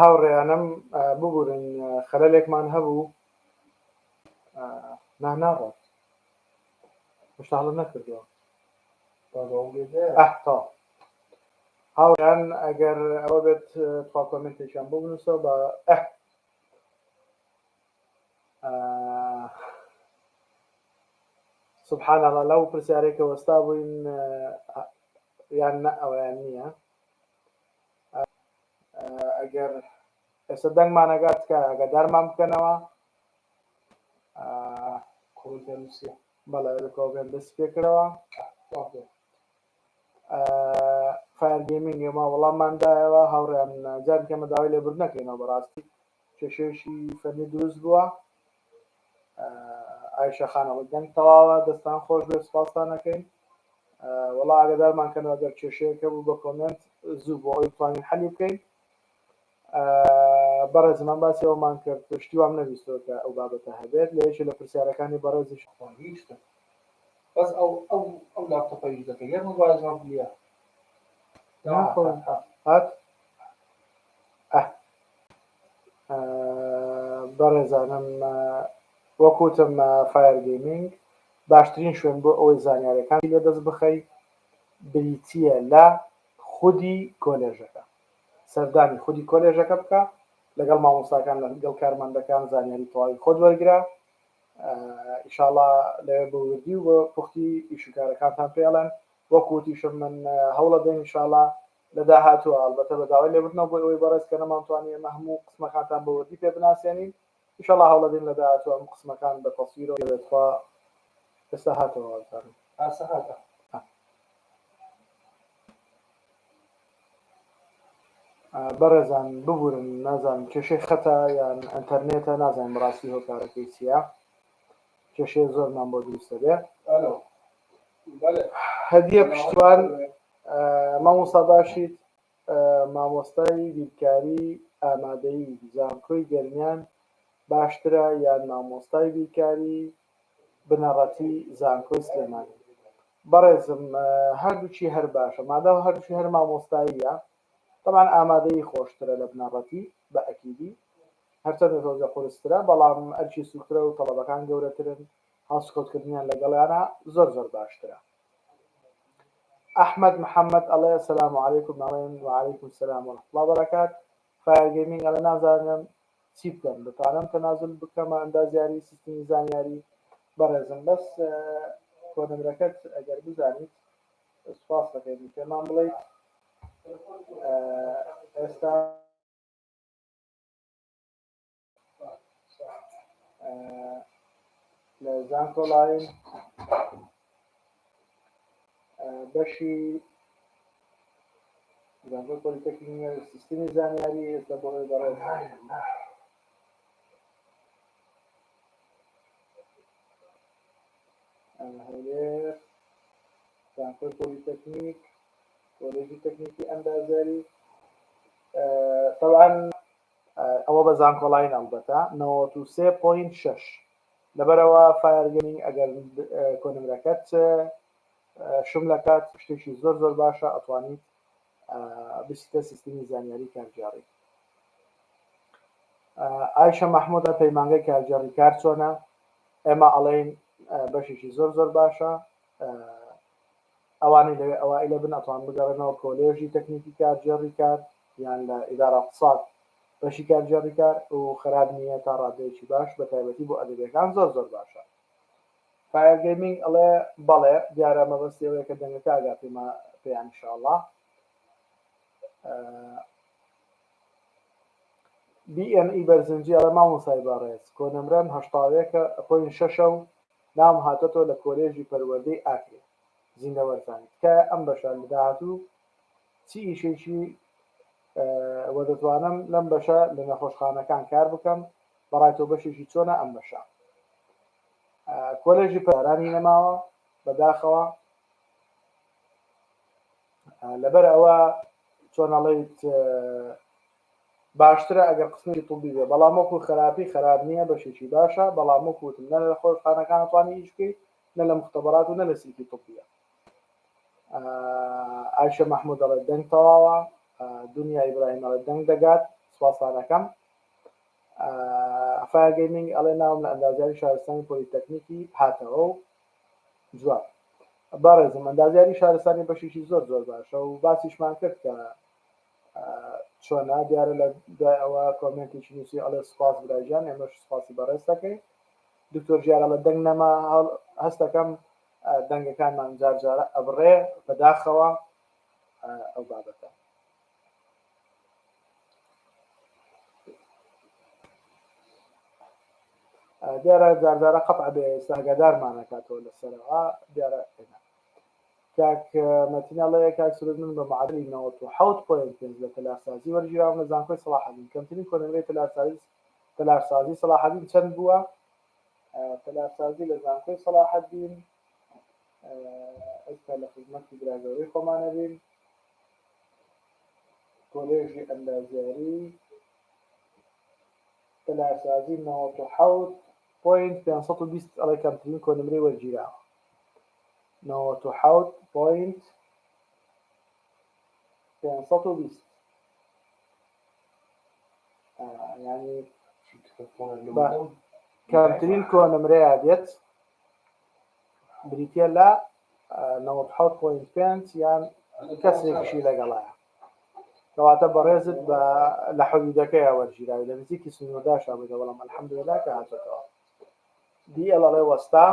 هاوڕێیانم ببورن خەلەلێکمان هەبوو نا ناڕۆن هێشتا هەڵەم نەکردووە ئەحتا هاوڕێیان ئەگەر ئەوە بێت تخوا کۆمێنتێکیان بۆ بنووسەوە بە ئەح سبحان اللە لەو پرسیارێک کە وەستا بووین یان نە ئەویان نییە ئەگەر ئێستا دەنگمانەگات تکە ئەگەدارمان بکەنەوە بەڵێ لە کۆبێن دەست پێکرەوە فایەر گەیمینگ ئێمە وەڵاممان دایەوە هاوڕێیان جارێکی ئەمە داوای لێبوردن نەکەینەوە بەڕاستی کێشەیەکی فەرمی دروست بووە ئایشە خانەوە دەنگ تەواوە دەستان خۆش بێت سپاستان نەکەین وەڵا ئاگدارمان کەنەوە گەر کێشەیەکە بوو بە کۆمنت زوو بۆ ئەوی توانین حەلی بکەین بەڕێزم من باسی ئەوەمان کرد پشتی وام نەویستوە کە ئەو بابەتە هەبێت لە یەکێ لە پرسیارەکانی بەڕێزیش. ئەوە هیچ شتە بەس ئەو ئەو ئەو لاپتۆپە ئیش دەکە یەک مۆبایل جواب گلیا هات ئەه بەڕێزانم وەک وتم فایر گەیمینگ باشترین شوێن بۆ ئەوەی زانیارەکانی لێ دەست بخەی بریتییە لە خودی کۆلێژەکە سەردانی خودی کۆلێژەکە بکە لەگەڵ مامۆستاکان لەگەڵ کارمەندەکان زانیاری تەواوی خۆت وەرگرە ئیشاڵا لەوێ بە وردی و بە پوختی ئیشوکارەکانتان پێڵێن وەکوتیشم من هەوڵە دەین ئیشاڵا لە داهاتووە ئەڵبەتە بە داوای لێبردنەوە بۆ ئەوەی بەڕێز کە نەمانتوانی ئێمە هەموو قسمەکانتان بە وردی پێ بناسێنین ان شاء اللە هەوڵەدەین لە داهاتوو ئەم قسمەکان بە تەسویرەوە بێت خوا ئێستا هاتەوە وابزانم ئاسە هاتە. بەڕێزان ببورن نازانم کێشەی خەتە یان ئەنتەرنێتە نازانم بەڕاستی هۆکارەکەی چییە کێشەیە زۆرمان بۆ دروست دەبێ هەدیە پشتیوان مامۆستا باشیت مامۆستای بیرکاری ئامادەیی زانکۆی گەرمیان باشترە یان مامۆستای بیرکاری بنەڕەتی زانکۆی سلێمانی؟ بەڕێزم هەردووکی هەر باشە مادام هەردووکی هەر مامۆستاییە تەبعەن ئامادەیی خۆشترە لە بنەڕەتی بە ئەکیدی هەرچەندە تۆزێ قورسترە بەڵام ئەرکی سوکترە و تەڵەبەکان گەورەترن هەڵسوکەوت کردنیان لەگەڵیانا زۆر زۆر باشترە. ئەحمەد محەمەد ئەڵێ، سەلام علیکم ئەڵێن، وعلیکم سەلام ورحمە اللە وبرکات. فایەر گەیمینگ ئەڵێ، نازانم چی بکەم دەتوانم تەنازول بکەمە ئەندازیاری سیستمی زانیاری؟ بەڕێزم بەس کۆنمرەکەت ئەگەر بزانیت سوپاس دەکەین پێمان بڵێیت ئێستا. لە زانکۆلاین بەشی زانکۆ پۆلیتەکنیە سیستمی زانیاری ئێستا بۆ ئەوێ بەڕێز هەولێر زانکۆی پۆلیتەکنیک کۆلێژی تەکنیکی ئەندازیاری طبعا ئەوە بە زانکۆڵاین ئەڵبەتە نەوەت و سێ پۆینت شەش لەبەرئەوە فایەر گەمینگ ئەگەر کۆنمرەکەت شم لەکات شتێکی زۆر زۆر باشە ئەتوانیت بچیتە سیستمی زانیاری کارگێڕی ئایشە مححمودە پەیمانگەی کارگێڕی کار چۆنە ئێمە ئەڵێین بەشێکی زۆر زۆر باشە ئەوانەی لەوێ ئەوائیلە بن ئەتوان بگەڕێنەوە کۆلێژی تەکنیکی کارگێڕی کار یان لە ئیدارە اقتصاد بەشی کارگێڕی کار و خەراپ نیە تا ڕادەیەکی باش بە تایبەتی بۆ ئەدەبیەکان زۆر زۆر باشە. فایەر گەیمینگ ئەڵێ بەڵێ دیارە مەبەستی ئەوەیە کە دەنگەکە ئاگا پێما پێیان ان شاء اللە BNE بەرزنجی ئەڵێ مامۆستای بەڕێز کۆنەمرەم هەشتا و یەکە پۆینت شەشە و ناوم هاتۆتەوە لە کۆلێژی پەروەردەی ئاکرێ زیندە وەرزانی تکایە ئەم بەشە لە داهاتوو چی ئیشێکی وە دەتوانم لەم بەشە لە نەخۆشخانەکان کار بکەم بەڕای تۆ بەشێکی چۆنە ئەم بەشە کۆلێژی پارانی نەماوە بەداخەوە لەبەر ئەوە چۆنەڵیت باشترە ئەگەر قسمێکی طوبی بێ بەڵام وەکو خەراپی خەراپ نیە بەشێکی باشە بەڵام وەکو وتم نە لە خۆشخانەکان ئەتوانی ئیش بکەی نە لە مختبرات و نە لە سیلکی طوبیە ئایشە محمود ئەڵێت دەنگ تەواوە دنیا ئیبراهیم ئەڵێت دەنگ دەگات سوپاسانەکەم فایل گەیمینگ ئەڵێ ناوم لە ئەندازیاری شارستانی پۆلیتەکنیکی هاتەوە و جواب بەڕێزم ئەندازیاری شارستانی بەشێکی زۆر زۆر باشە و باسیشمان کرد کە چۆنە دیارە لە دوای ئەوە کۆمێنتێکی نووسی ئەڵێ سپاس براژیان ئێمەش سپاسی بەڕێز دەکەین دکتۆر ژیارە لە دەنگ نەما هەستەکەم دەنگەکانمان جار جارە ئەبڕێ بەداخەوە ئەو بابەتە دیارە جاردارە قەت عبێ ئێستا هەگادارمانەکاتەوە لەسەرەوە دیارە ئێنا کاک مەتین ئەڵێ کاک سرود من بە معەدەلی نەوەد و حەوت پۆینت پێنج لە تەلارسازی وەرگیراوم لە زانکۆی سەڵاحەدین کەمترین کۆنمرەی تەلارسازی تەلارسازی سەڵاحەدین چەند بووە؟ تەلارسازی لە زانکۆی سەڵاحەدین ئێستا لە خزمەتی برا گەورەی خۆمانە بین کۆلێژی ئەندازیاری تەلارسازی نەوەد و حەوت پۆینت پێنج سەد و بیست ئەڵێ کەمترین کۆنمرەی وەرگیراوە نەوەد و حەوت پۆینت پێنج سەد و بیست یانی کەمترین کۆنمرەیە دێت بریتە لە نەوەد حەوت پۆینت پێنج یان کەسێکیشی لەگەڵایە کەواتە بەڕێزت بە لە حەدودەکەی وەرگیراوی لە نزیکی سنوورداشا بێتە بەڵام الحەمدللا کە هاتێتەوە دیڵڵێ وەستا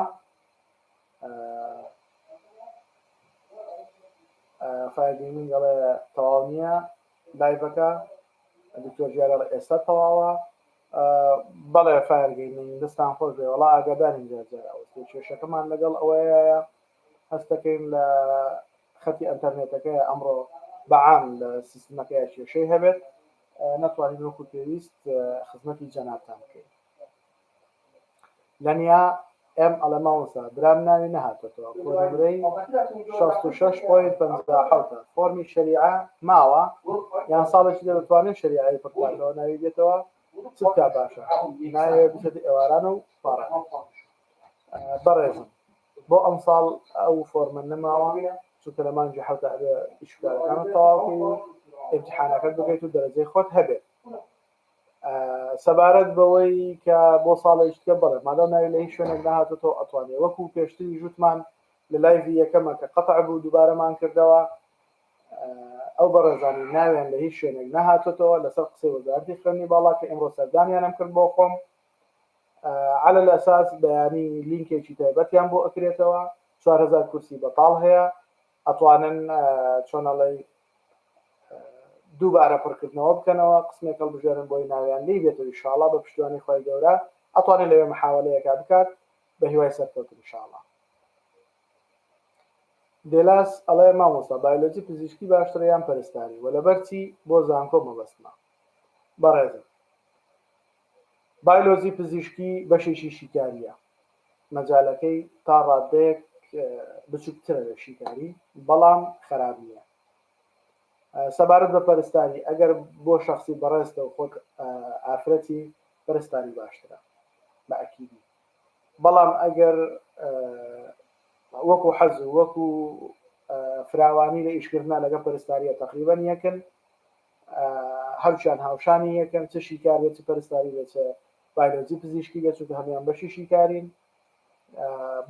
فایر گەیمینگ دەڵێ تەواو نییە لایڤەکە دکتۆر جیارە ئێستا تەواوە بەڵێ فایر گەیمینگ دەستان خۆش بێ وڵا ئاگادارین جارجارەوە کێشەکەمان لەگەڵ ئەوەیە هەستەکەین لە خەتی ئەتەرنێتەکە ئەمڕۆ بەعام لە سیستمەکەی کێشەی هەبێت نەتوانین وەکو پێویست خزمەتی جەنابتان بکەین لەنیا ئێم ئەڵێ مامۆستا برام ناوی نەهاتۆتەوە خۆ نمرەی شەست و شەش پۆینت پەنجا و حەوتە فۆرمی شەریعە ماوە یان ساڵێکی دە دەتوانێ شەریعەی پڕ بکاتەوە ناوی دێتەوە چ بکا باشە ناوێ بچێتە ئێواران و پاڕان بەڕێزم بۆ ئەم ساڵ ئەو فۆرمە نەماوە چونکە لە مانگی حەوتە ئەبێ ئیشکارەکانت تەواوکەی و امتحانەکەت بکەیت و دەرەجەی خۆت هەبێت سەبارەت بەوەی کە بۆ ساڵێکتکە بڵێ مادام ناوی لە هیچ شوێنێک نهاتۆتەوە ئەتوانێ وەکو پێشتری ژوتمان لە لایڤی یەکەمە کە قەتع بوو دووبارەمان کردەوە ئەو بەڕێزانی ناوێن لە هیچ شوێنێک نەهاتێتەوە لەسەر قسەی وەزارتی خوێنی باڵا کە ئەمڕۆ سەردانیانم کرد بۆ خۆم على الاساس بەیانی لینکێکی تایبەتیان بۆ ئەکرێتەوە 4هزار کورسی بەتاڵ هەیە ئەتوانن چۆنەڵی دووبارە پڕکردنەوە بکەنەوە قسمێک هەڵبژێرن بۆی ناویان لی بێت و ئیشاڵا بە پشتیوانی خوای گەورە ئەتوانێ لەوێ محاوەلەیەکا بکات بە هیوای سەرکەوتن ئیشاڵا. دێلاس ئەڵێ مامۆستا بایۆلۆجی پزیشکی باشترە یان پەرستاری وە لەبەر چی بۆ زانکۆ مەبەستمە بەڕێزم. بایلۆجی پزیشکی بەشێکی شیکارییە، مەجالەکەی تا ڕاددەیەک بچوکترە لە شیکاری بەڵام خەراپ نییە. سەبارەت بە پەرستاری ئەگەر بۆ شەخسی بەڕێزتە و خۆت ئافرەتی پەرستاری باشترە بە ئەکیدی بەڵام ئەگەر وەکو حەز و وەکو فراوانی لە ئیشکردنا لەگەڵ پەرستارییە تەقریبەن یەکن هەرچیان هاوشانی یەکن چ شیکار بێت چ پەرستاری بێت چ بایلۆجی پزیشکی بێت چونکە هەموان بەشی شیکارین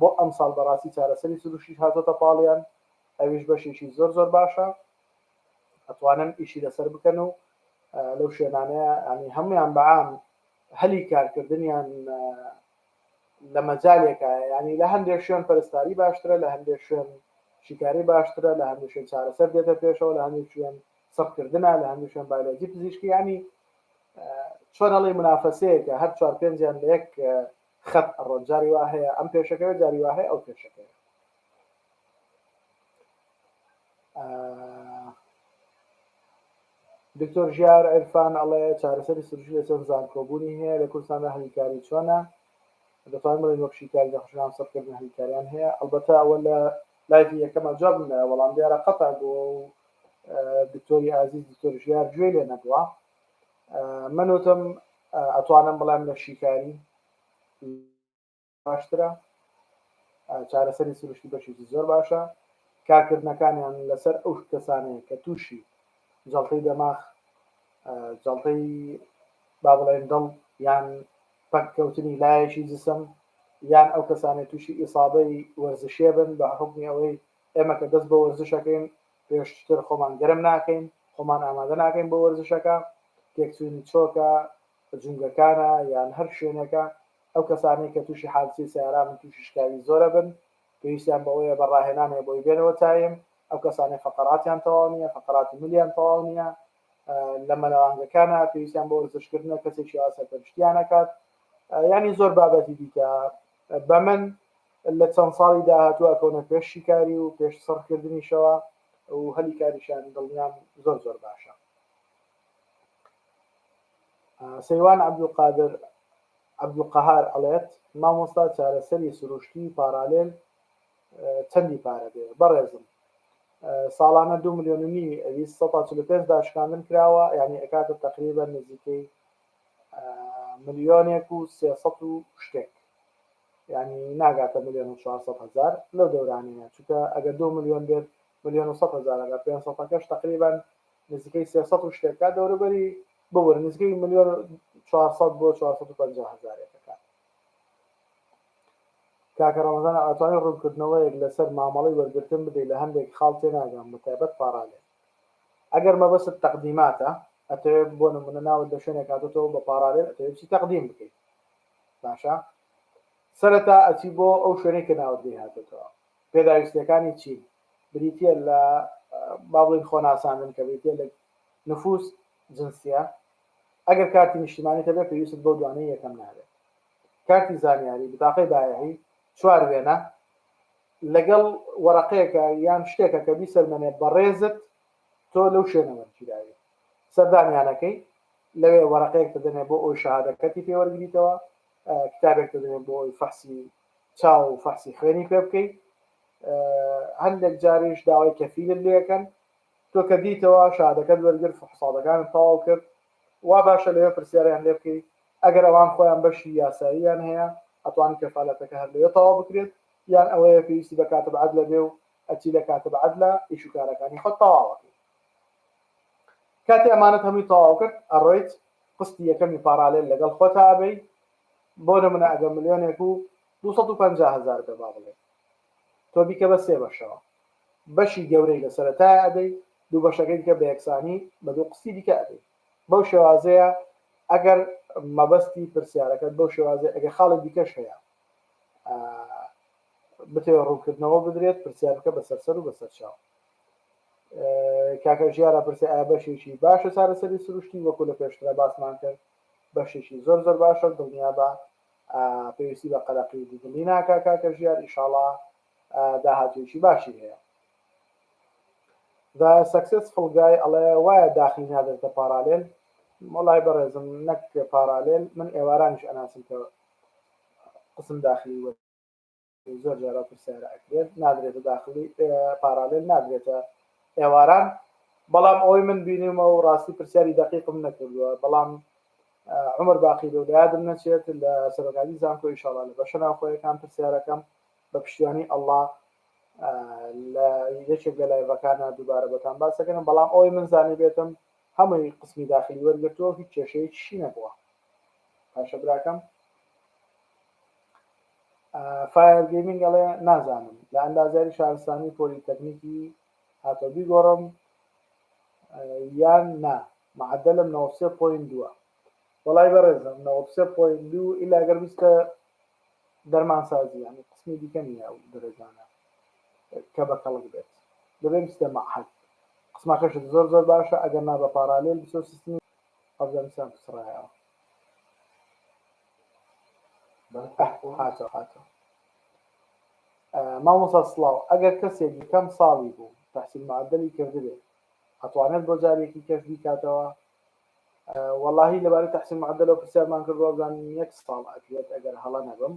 بۆ ئەمساڵ بەڕاستی چارەسەری سروشیش هاتۆتە پاڵیان ئەویش بەشێکی زۆر زۆر باشە ئەتوانن ئیشی لەسەر بکەن و لەو شوێنانەیە ئەنی هەمویان بەعام هەلی کارکردنیان لە مەجالێکە ینی لە هەندێک شوێن پەرستاری باشترە لە هەندێک شوێن شیکاری باشترە لە هەندێک شوێن چارەسەر دێتە پێشەوە لە هەندێک شوێن سڕکردنە لە هەندووشیان بایلۆجی پزیشکی یانی چۆن ئەڵێی منافەسەیەکە هەر چوار پێنجیان لە یەک خەت ئەڕۆن جاری وا هەیە ئەم پێشەکەوێ جاری وا هەیە ئەو پێشەکەوێ دکتۆر ژیار عرفان ئەڵێ چارەسەری سروشی لە چەند زانکۆبوونی هەیە لە کوردستاندا هەلیکاری چۆنە دەتوان بڵێن وەک شیکاری دەخشان سەرکردن هەلیکاریان هەیە ئەلبەتە ئەوە لە لایفی یەکەمە جواب نایە بەڵام دیارە قەتە بۆ دکتۆری ئازیز دکتۆر ژیار گوێی لێ نەبووە من وتم ئەتوانم بڵێم لە شیکاری باشترە چارەسەری سروشتی بەشێکی زۆر باشە کارکردنەکانیان لەسەر ئەو کەسانەیە کە تووشی جڵتەی دەماخ جڵتەی با بڵێن دڵ یان پەککەوتنی لایەکی جسم یان ئەو کەسانێت تووشی ئیسابەی وەرزشێ بن بە حکمی ئەوەی ئێمە کە دەست بە وەرزشەکەین پێشتر خۆمان گەرم ناکەین، خۆمان ئامادە ناکەین بۆ وەرزشەکە، تێکچوونی چۆکە، جومگەکانە یان هەر شوێنێکە، ئەو کەسانەی کە تووشی حادسەی سەیارە بن تووشی شکاوی زۆرە بن، پێویستیان بەوەیە بە ڕاهێنان هەیە بۆی بێنەوە تایم، ئەو کەسانەی فەقەراتیان تەواو نییە، فەقەراتی ملیان تەواو نییە لە مەلەوانگەکانە پێویستیان بە وەرزشکردنە، کەسێکی وا سەرپەرشتیان ئەکات، یانی زۆر بابەتی دیکە بە من لە چەند ساڵی داهاتوو ئەکەونە پێش شیکاری و پێش سڕ کردنیشەوە و هەلی کاریشان دڵنیام زۆر زۆر باشە. سەیوان عەبدولقادر عەبدولقەهار ئەڵێت، مامۆستا چارەسەری سروشتی پاڕالێل چەندی پارە دێ؟ بەڕێزم ساڵانە دوو ملیۆن و نیوی ئەویست سەد تا چل و پێنج داشکاندن کراوە یانی ئەکاتە تەقریبەن نزیکەی ملیۆنێک و سێ سەد و شتێک یانی ناگاتە ملیۆن و چوار سەد هەزار لەو دەورانەیە چونکە ئەگەر دوو ملیۆن بێت ملیۆن و سەد هەزارە لە پێنج سەدەکەش تەقریبەن نزیکەی سێ سەد و شتێک کات دەوروبەری ببورە نزیکەی ملیۆن و چوار سەد بۆ چوار سەد و پەنجا هەزارێک کات کاکە ڕەمەزان ئەتوانی ڕوونکردنەوەیەک لەسەر مامەڵەی وەرگرتن بدەی لە هەندێک خاڵ تێناگەم بە تایبەت پاڕالێل ئەگەر مەبەست تەقدیماتە ئەتەوێت بۆ نمونە ناوت لە شوێنێک هاتۆتەوە بە پاڕالێل ئەتەوێت بچی تەقدیم بکەیت باشە سەرەتا ئەچی بۆ ئەو شوێنەی کە ناوت لێ هاتێتەوە پێداویستیەکانی چین بریتە لە بابڵین خۆناساندن کە بریتە لە نفوس جنسیە ئەگەر کارتی نیشتیمانی تەبێت پێویست بۆ دوانەی یەکەم نابێت کارتی زانیاری بتاقی بایەهی چوار وێنە لەگەڵ وەرەقەیەکە یان شتێکە کە بیسەلمەنێ بەڕێزت تۆ لەو شوێنەوە گیراوی سەردانیانەکەی لەوێ وەرەقەیەک دەدەنێ بۆ ئەوەی شەهادەکەتی پێ وەرگریتەوە، کتابێک دەدەنێ بۆ ئەوەی فەحسی چاو و فەحسی خوێنی پێ بکەی، هەندێک جاریش داوای کەفیلت لێەکەن، تۆ کە دیتەوە شەهادەکەت وەرگرت فحسابەکانت تەواو کرد، وا باشە لەوێ پرسیاریان لێ بکەی، ئەگەر ئەوان خۆیان بەشی یاساییان هەیە ئەتوان کەفالەتەکە هەر لەوێ تەواو بکرێت، یان ئەوەیە پێویستی بە کاتب عەدلە بێ و ئەچی لە کاتب عەدلە ئیش و کارەکانی خۆت تەواو ئەکەی. کاتی ئەمانەت هەمووی تەواو کرد ئەڕۆیت قستی یەکەمی پاڕالێل لەگەڵ خۆتا ئەبەی بۆ نمونە ئەگە ملیۆنێک و دوو سەد و پەنجا هەزار بێ با بڵێین تۆ بیکە بە سێ بەشەوە بەشی گەورەی لە سەرەتایە ئەدەی دوو بەشەکەی دیکە بە یەکسانی بە دوو قستی دیکە ئەدەی بەو شێوازەیە ئەگەر مەبەستی پرسیارەکەت بەو شێوازی ئەگە خاڵی دیکەش هەیە بتەوێت ڕوونکردنەوە بدرێت پرسیارەکە بەسەرسەر و بەسەر چاو کاکە ژیار ئەپرسێ ئایا بەشێکی باشە چارەسەری سروشتی وەکو لە پێشترا باسمان کرد بەشێکی زۆر زۆر باشە دڵنیابە پێویستی بە قەلەقی دڵی ناکا کاکە ژیار ئیشاڵا داهاتوێکی باشی هەیە دا سەکسس فڵگای ئەڵێ وایە داخلی نادرتە پارالێل مۆڵای بەڕێزم نەک پارالێل من ئێوارانیش ئەناسم کە قسم داخلی وە زۆر جار ئەو پرسیارە ئەکرێت نادرێتە داخلی پارالێل نادرێتە ئێواران بەڵام ئەوەی من بینیمە و ڕاستی پرسیاری دقیقم نەکردووە بەڵام عمر باقی لەو لادم نەچێت لە سەرۆکاتی زانکۆ ئیشاڵا لە بەشە ناوخۆیەکان پرسیارەکەم بە پشتیوانی ئەلله لە یەکێک لە لایڤەکانە دووبارە بۆتان باسەکەن بەڵام ئەوەی من زانی بێتم هەمووی قسمی داخلی وەرگرتووە هیچ کێشەیەکی نەبووە پاشە براکەم فایەر گەیمینگ ئەڵێ نازانم لە ئەندازیاری شارستانی پۆلیتەکنیکی هاتەو بیگۆڕم یان نا معەدەلم نەوەد و سێ پۆینت دووە. وەڵای بەڕێزم نەوەد و سێ پۆینت دوو ئیلا گەر بیستە دەرمانسازی یانی قسمی دیکە نیە ئەو دەرەجانە کە بە کەڵک بێت دەبێ بیستە معهد قسمەکەشت زۆر زۆر باشە ئەگەر نا بە پاڕالێل بچۆ سیستمی ئەفگانستان بسڕایەوە. مامۆستا سڵاو ئەگەر کەسێک یەکەم ساڵی بوو تحسین معدلی کردبێ ئەتوانێت بۆ جارێکی کەش بیکاتەوە واللهی لەبارەی تحسین معدلەوە پرسیارمان کرد وابزانین یەک ساڵ ئەکرێت ئەگەر هەڵە نەبم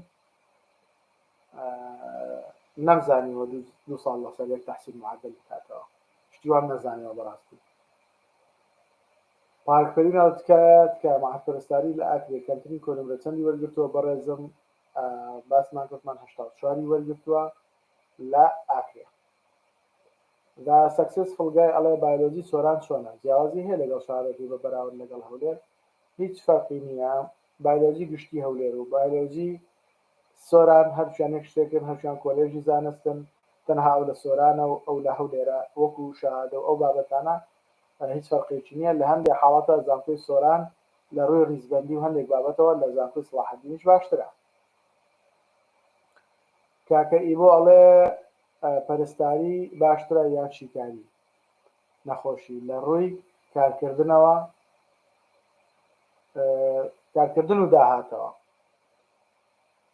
نەمزانیوە دو ساڵ لەسەر یەک تحسین معدل بکاتەوە شتیوان نەزانیەوە بەڕاستی پارک پەریناز تکایە تکایە مەعەد پەرستاری لە ئاکرێ کەمترین کۆنمرە چەندی وەرگرتووە بەڕێزم باسمان کرد من هەشتا و چوار ی وەرگرتووە لە ئاکرێ ذا سەکسس فڵگای ئەڵێ بایلۆجی سۆران چۆنە جیاوازی هەیە لەگەڵ شارەکەی بە بەراورد لەگەڵ هەولێر هیچ فەرقی نییە بایلۆجی گشتی هەولێر و بایلۆجی سۆران هەرچیان یەک شتێکن هەرچیان کۆلێژی زانستن تەنها ئەو لە سۆرانە و ئەو لە هەولێرە وەکو شەهادە و ئەو بابەتانە هیچ فەرقێکی نیە لە هەندێ حاڵەتە زانکۆی سۆران لە ڕووی ڕیزبەندی و هەندێک بابەتەوە لە زانکۆی سڵاحەدینیش باشترە. کاکە ئیبۆ ئەڵێ پەرستاری باشترە یان شیکاری نەخۆشی لە ڕووی کارکردنەوە کارکردن و داهاتەوە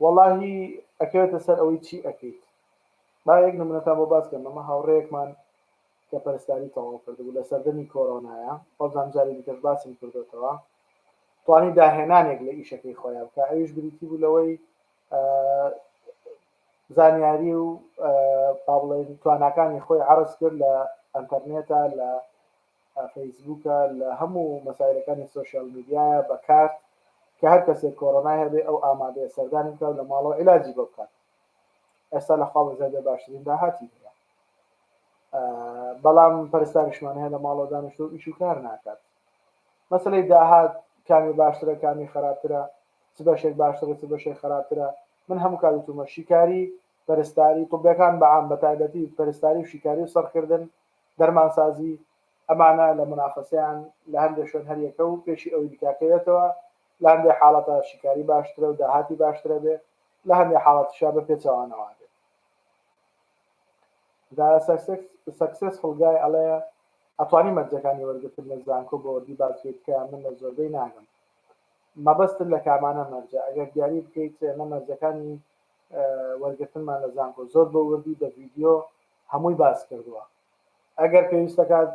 وەڵاهی ئەکەوێتە سەر ئەوەی چی ئەکەیت با یەک نمونەتان بۆ باس کەم ئەمە هاوڕێیەکمان کە پەرستاری تەواو کردبوو لە سەردەمی کۆرۆنایە بەڵزام جاری دیکەش باسم کردۆتەوە توانی داهێنانێک لە ئیشەکەی خۆیان بکە ئەویش بریتی بوو لەوەی زانیاری و پابڵێن تواناکانی خۆی عرض کرد لە ئەتەرنێتە لە فەیسبووکە لە هەموو مەسایلەکانی سۆشیال میدیایە بە کارت کە هەر کەسێک کۆرۆنای هەبێ ئەو ئامادەیە سەردانی بکا و لە ماڵەوە عیلاجی بۆ بکات ئێستا لە خوا بەزای بێ باشترین داهاتی هەیە بەڵام پەرستاریشمان هەیە لە ماڵەوە دانیشتۆ ئیش و کار ناکات مەسلەی داهات کامی باشترە کامی خراپترە چ بەشێک باشترە چ بەشێک خراپترە من هەموو کات وتومە شیکاری پەرستاری طبەکان بەعام بە تایبەتی پەرستاری و شیکاری و سەرکردن دەرمانسازی، ئەمانە لە مونافەسەیان لە هەندێ شوێن هەر یەکە و پێشی ئەوی بکاکەوێتەوە، لە هەندێ حاڵەتا شیکاری باشترە و داهاتی باشترەبێ، لە هەندێ حاڵەتیشا بە پێچەوانەوابێ. The Successful Guy ئەڵێ، ئەتوانی مەرجەکانی وەرگرتن لە زانکۆ بە وردی باس بکەیت کە من لە زۆربەی ناگەم. مەبەستت لە کامانە مەرجە؟ ئەگەر دیاری بکەیت ئێمە مەرجەکانی وەرگرتنمان لە زانکۆ زۆر بە وردی بە ڤیدیۆ هەمووی باس کردووە ئەگەر پێویستە کات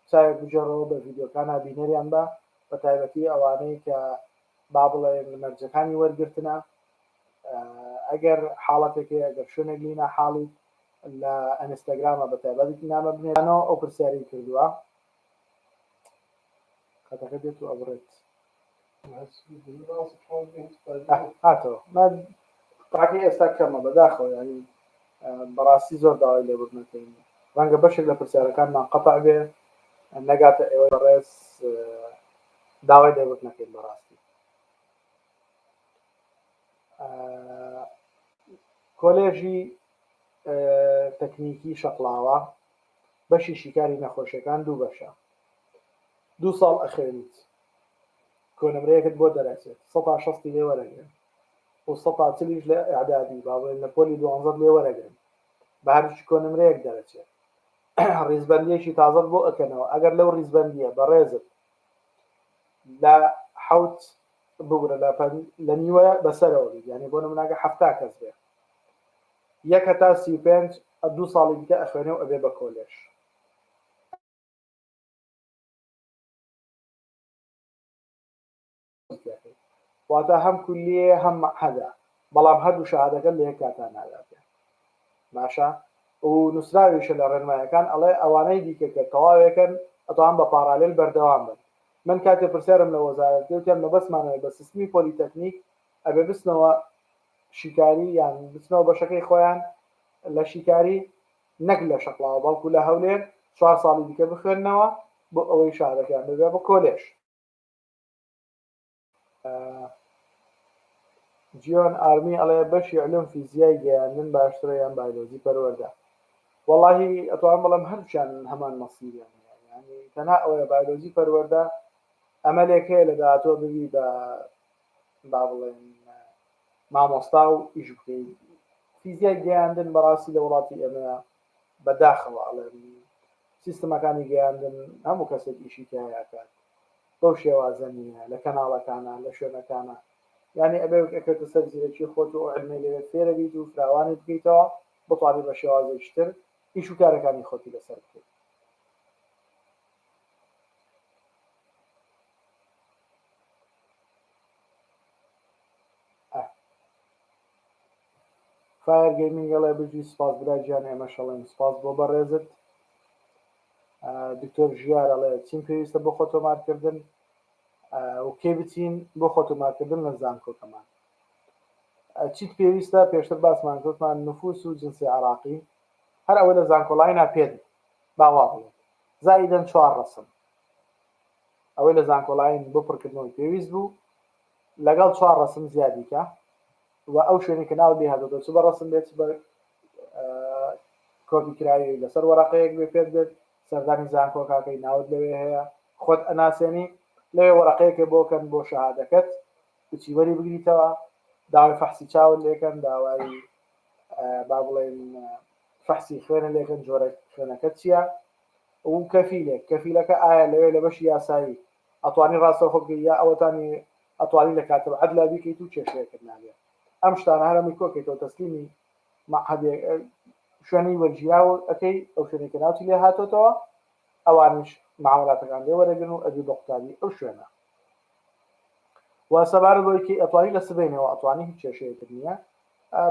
چاوێک بجێڕەوە بە ڤیدیۆکانە بینەریان بە بە تایبەتی ئەوانەی کە با بڵێن مەرجەکانی وەرگرتنە ئەگەر حاڵەتێکی ئەگەر شوێنێک لینا حاڵی لە ئەنستاگرامە بە تایبەتی نامە بنێرانەوە ئەو پرسیاری کردووە قەدەغە دێت و ئەبڕێت هاتەوە تاکەی ئێستا کەمە بەداخەوە ینی بەڕاستی زۆر داوای لێبوردنەکەین ڕەنگە بەشێک لە پرسیارەکانمان قەتع بێ نەگاتە ئێوە بەڕێز داوای لێبوردنەکەین بەڕاستی کۆلێژی تەکنیکی شەقلاوە بەشی شیکاری نەخۆشیەکان دوو بەشە دوو ساڵ ئەخوێنیت کۆنمرەیەکت بۆ دەرەچێت سەتا شەستی لێ وەرەگرن و سەتا چلیش لە ئعدادی با بڵێن لە پۆلی دوانزەت لێ وەرەگرن بە هەرچ کۆنمرەیەک دەرەچێت ڕیزبەندیەکی تازەت بۆ ئەکەنەوە ئەگەر لەو ڕیزبەندیە بەڕێزت لە حوت بگرە لە لە نیوە بەسەرەوە بیت یعنی بۆ نموناگە حفتا کەس بێت یەک هەتا سی و پێنج ئە دوو ساڵی دیکە ئەخوێنێ و ئەبێ بە کۆلێژ. واتا هەم کولیەیە هەم مەعهەدە بەڵام هەردوو شەهادەکەت لە یەک کاتا ناداتێ باشە و نووسراویشە لە ڕێنمایەکان ئەڵێ ئەوانەی دیکە کە تەواوێکن ئەتوان بە پاڕالێل بەردەوام بن من کاتێ پرسیارم لە وەزارەت لێ وتیان مەبەستمانەوەی بە سیستمی پۆلیتەکنیک ئەبێ بچنەوە شیکاری یان بچنەوە بەشەکەی خۆیان لە شیکاری نەک لە شەقڵاوە بەڵکو لە هەولێر چوار ساڵی دیکە بخوێننەوە بۆ ئەوەی شارەکەیان ببێ بە کۆلێژ. جیۆن ئارمی ئەڵێ بەشی علوم فیزیای گەیاندن باشترە یان بایلۆجی پەروەردە وەڵاهی ئەتوانم بڵێم هەردووکیان هەمان مەسیریان هەیە یانی تەنها ئەوەیە بایلۆجی پەروەردە ئەمەلێک هەیە لە داهاتووە ببی بە با بڵێین مامۆستا و ئیش بکەین فیزیای گەیاندن بەڕاستی لە وڵاتی ئێمە بە داخەوە ئەڵێن سیستمەکانی گەیاندن هەموو کەسێک ئیشی تیاکات بەو شێوازە نیە لە کەناڵەکانە لە شوێنەکانە یعنی ئەبێ ئەکەوتە سەر زیرەکی خۆت و علمێ لێ فێرە بیت و فراوانی بکەیتەوە بتوانانی بە شێوازێکتر ئیش و کارەکانی خۆتی لەسەر بکەیت فایر گەیمینگ ئەڵێ بژی سپاس برا گیان ئێمەش ئەڵێن سپاس بۆ بەڕێزت دکتۆر ژیار ئەڵێ چین پێویستە بۆ خۆ تۆمارکردن و کێ بچین بۆ خۆ تۆمارکردن لە زانکۆکەمان چیت پێویستە پێشتر باسمان گوتمان نفوس و جنسی عراقی هەر ئەوە لە زانکۆڵای ناپێت باوا بڵێت زایدەن چوار ڕسم ئەوەی لە زانکۆلاین بۆ پڕکردنەوەی پێویست بوو لەگەڵ چوار ڕەسم زیادی کا و ئەو شوێنی کە ناوت لێهاتۆتە چ بە ڕەسم بێت چ بە کۆپی کراوی لەسەر وەرەقەیەک بێ پێت بێت سەردانی زانکۆکاکەی ناوت لەوێ هەیە خۆت ئەناسێنی لەوێ وەرەقەیەکێ بۆکەن بۆ شەهادەکەت بچی وەری بگریتەوە داوای فەحسی چاوت لێکەن داوای با بڵێن فەحسی خوێنە لێکەن جۆرە خوێنەکە چییە و کەفیلێک کەفیلەکە ئایا لەوێ لە بەشی یاسایی ئەتوانی ڕاستەوخۆ بکەی یا ئەوەتانی ئەتوانی لە کاتب عەدلا بیکەیت و کێشەیەکت نابێ ئەم شتانە هەر ئەمەی کۆکەیتەوە تەسلیمی معهد شوێنی وەرگیراو ئەەکەی ئەو شوێنی کە ناوتی لێ هاتۆتەوە ئەوانیش معاملاتەکان لێ وەرەگرن و ئەبی بە قوتابی ئەو شوێنە و سەبارە بۆی کە ئەتوانی لە سبەینەوە ئەتوانی هیچ کێشەیەکت نییە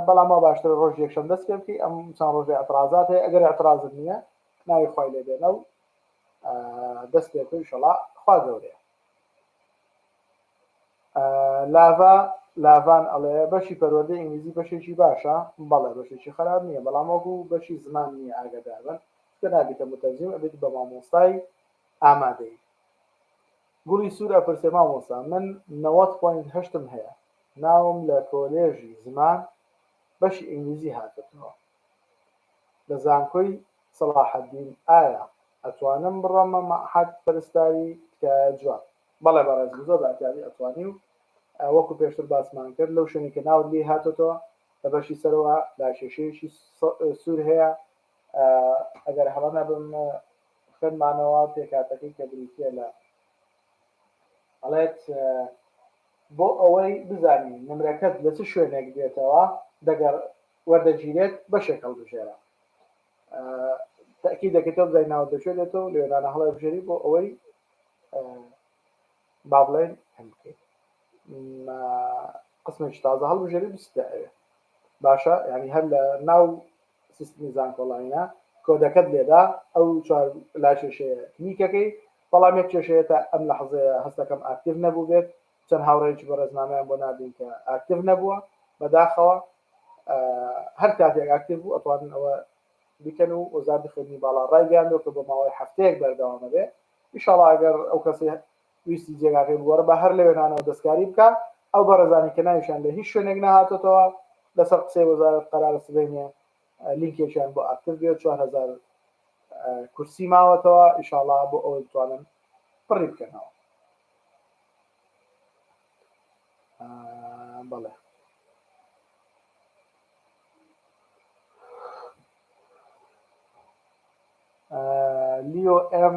بەڵام ما باشتر ڕۆژ یەکشەم دەست پێ بکەی ئەم چەند ڕۆژی اعتراضات هەیە ئەگەر اعتراضت نییە ناوی خوای لێ بێنە و دەست پێ بکەن شەڵا خوا گەورەیە لاڤا لاڤان ئەڵێ بەشی پەروەردە ئینگلیزی بەشێکی باشە بەڵێ بەشێکی خراپ نییە بەڵام وەکو بەشی زمان نییە ئاگادار بن کە نابیتە متەرجیم ئەبێت بە مامۆستای ئامادەی گوڵی سوورە پرسێ مامۆستا من نەوەت پوینت هەشتم هەیە ناوم لە کۆلێژی زمان بەشی ئینگلیزی هاتبووە لە زانکۆی سەڵاحەدین ئایا ئەتوانم بڕۆمە مەعهەد پەرستاری تکایە جواب. بەڵێ بەڕێزم زۆر بە ئەتیازی ئەتوانی و وەکو پێشتر باسمان کرد لەو شوێنی کە ناوت لێی هاتۆتەوە لە بەشی سەرەوە لا کێشەیەکی سور هەیە ئەگەر هەڵە نەبم خوێنمانەوە پێکاتەکەی کە بریتیە لە ئەڵێت بۆ ئەوەی بزانین نمرەکەت لە چ شوێنێک دێتەوە دەگەڕ وەردەگیرێت بەشێک هەڵبژێرە تەئکید دەکەیتەوە بزانین ناوت لە کوێ دێتەوە لەوێ نانە هەڵێبژێری بۆ ئەوەی با بڵێن هەم بکەیت قسمێکی تازە هەڵبژێری بستە ئەوێ باشە ینی هەر لە ناو سیستمی زانکۆڵینە کۆدەکەت لێدا ئەو چوار لا کێشەیە کلیکەکەی بەڵام یەک کێشەیە تا ئەم لە حەزەیە هەستەکەم ئاکتیڤ نەبوو بێت چەند هاوڕێیەکی بەڕێز نامەیان بۆ ناردین کە ئاکتیڤ نەبووە بەداخەوە هەر کاتێک ئاکتیڤ بوو ئەتوانن ئەوە بیکەن و وەزارەتی خوێندنی باڵا ڕایگەیاندووە کە بۆ ماوەی هەفتەیەک بەردەوامە بێ ئیشاڵا ئەگەر ئەو کەسی ویستی جێگاکەی بوەڕ بە هەر لەوێنانەوە دەستکاری بکە ئەو بەڕێزانی کە ناویشان لە هیچ شوێنێک نەهاتێتەوە لەسەر قسەی وەزارەت قەرارە سبەینێ لینکێکیان بۆ ئاکتیڤ بێ 4000 کورسی ماوەتەوە ئیشاڵا بۆ ئەوەی بتوانن پڕی بکەنەوە بەڵێ لیۆ ئەم